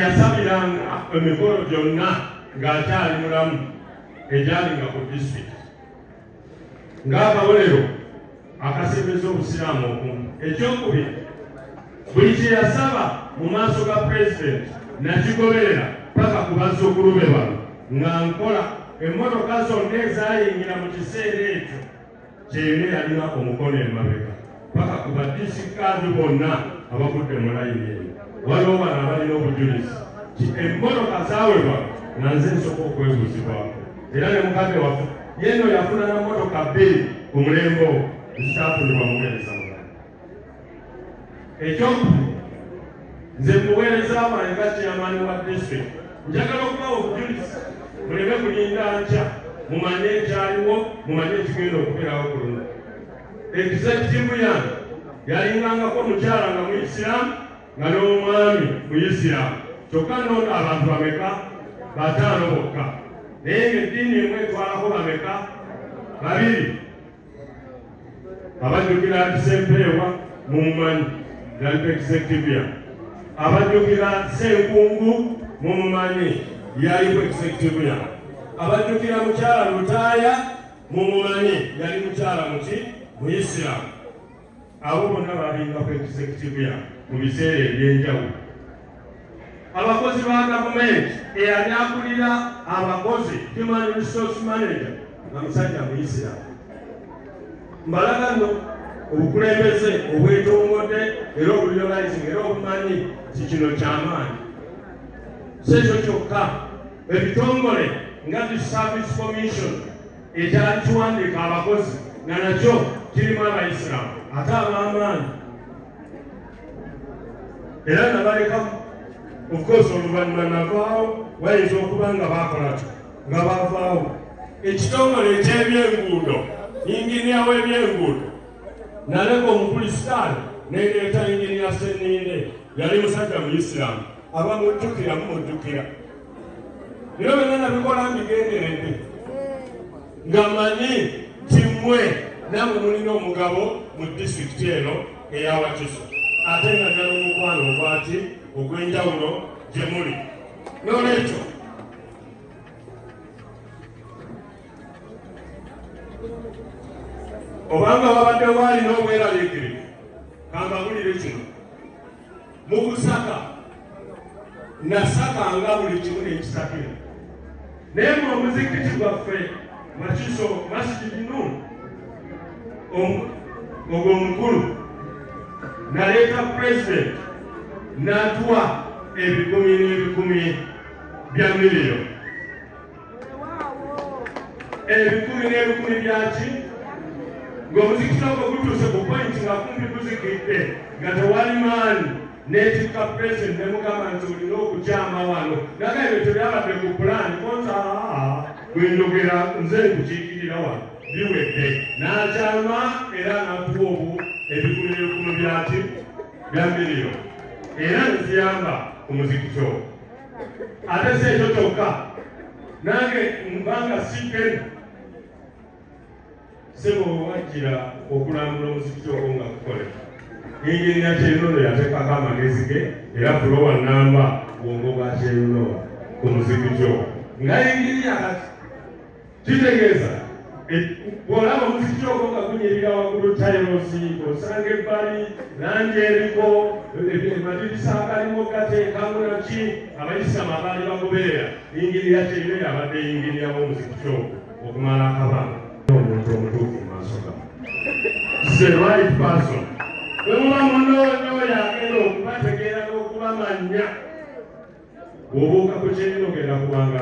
yasabiranga emikolo gyonna ng'akyali mulamu egyalinga ku disitulikiti ng'akabonero akasembeza obusiraamu okumu ekyokubiri buli kye yasaba mu maaso ga pulezidenti nakigoberera paka ku bazzukulu be bano nga nkola emmotoka zonna ezaayingira mu kiseera ekyo gyeyina yalina omukono emabega paka ku badisikaadi bonna abavudde mu layini eyo waliwo bano abalina obujulizi ti emmoloka zawebwa nga nze nsoka okwebuzibwako era ne mukadde waffe yeno yafuna na motoka bbiri ku mulembe ogwo ezitafunibwa muweereza ekyokubiri nze muweereza wange nga kyamani wa district njagala okubawa obujulizi muleme kulinda nkya mumanye ekyaliwo mumanye ekigenda okubeerawo ku luno egizekitivu yange yalingangako omukyala nga muisiramu nga n'omwami muisiramu kyokka noona abantu bameka bataano bokka naye nga eddiini emu etwalako bameka babiri abajjukira nti sempeewa mumumanyi yali executive abajjukira senkungu mumumanyi yali ku executive ya abajjukira mukyala lutaaya mumumanyi yali mukyala muki muyisiramu abo bonna balinga ku executive ya mu biseera ebyenjawulo abakozi ba gavumenti eyali akulira abakozi human resource manager nga musajja muisiramu mbalaga no obukulembeze obwetongodde era obuliolizing era obumanyi ti kino kyamaanyi si ekyo kyokka ebitongole nga zi service commission ekyali kiwandiika abakozi nga nakyo kirimu abayisiraamu ate ab'amaanyi era nabalekamu ofcourse oluvannyuma navaawo bayinza okuba nga baakola kyo nga bavaawo ekitongole eky'ebyenguudo yinginiya w'ebyenguudo naleka omukulisitaani nereeta yinginiya seniire yali musajja mu isiraamu abamujjukira mumujjukira bino byonna nabikola mbigenderedde nga manyi nti mmwe namwe mulina omugabo mu disitulikiti eno eyawakiso ate nga nali omukwano ogwaki ogw'enjawulo gye muli n'olwekyo obanga wabadde waali n'obweraliikirivu kambabulire kino mu kusaka nasaka nga buli kimu nekisakira naye mu omuzikiti gwaffe makiso masjid nun ogwo omukulu naleeta pulezidenti natuwa ebikumi n'ebikumi bya miliyo ebikumi n'ebikumi byaki ng'omuzikiti ogwo gutuuse ku pointi nga kumpi guzikidde nga tewali maani n'etikka pulezidenti ne mugamba nti olina okukyama wano naga ebyo tebyabadde ku pulaani konsa bwe njogera nze nkukiikirira wano biwedde n'akyama era natuwa obu ebikumi n'ebikumi byaki bya miliyo era nziyamba ku muzikiti ogwo ate si ekyo kyokka nange mbanga sipena sebo wajjira okulambula omuzikiti ogwo nga kukole yingirira kyerunono yateekako amagezi ge era fulowa namba bwongo bwa kyerunowa ku muzikiti ogwo nga yingirira kati kitegeeza bw'olaba omuziki ogwo nga gunyirira waggulu tayirosi osanga ebbali langi eriko madirisa agalimu gateekamu naki abayisiramu abaali bagoberera yingirira kyeyina yabadde yingiriramu omuziki ogwo okumala akabanga omuntu omutuufu mu maaso ga the right person bwe muba munoonyoyo agenda okubategeera n'okubamanya bw'obuuka ku kyeyina ogenda kubanga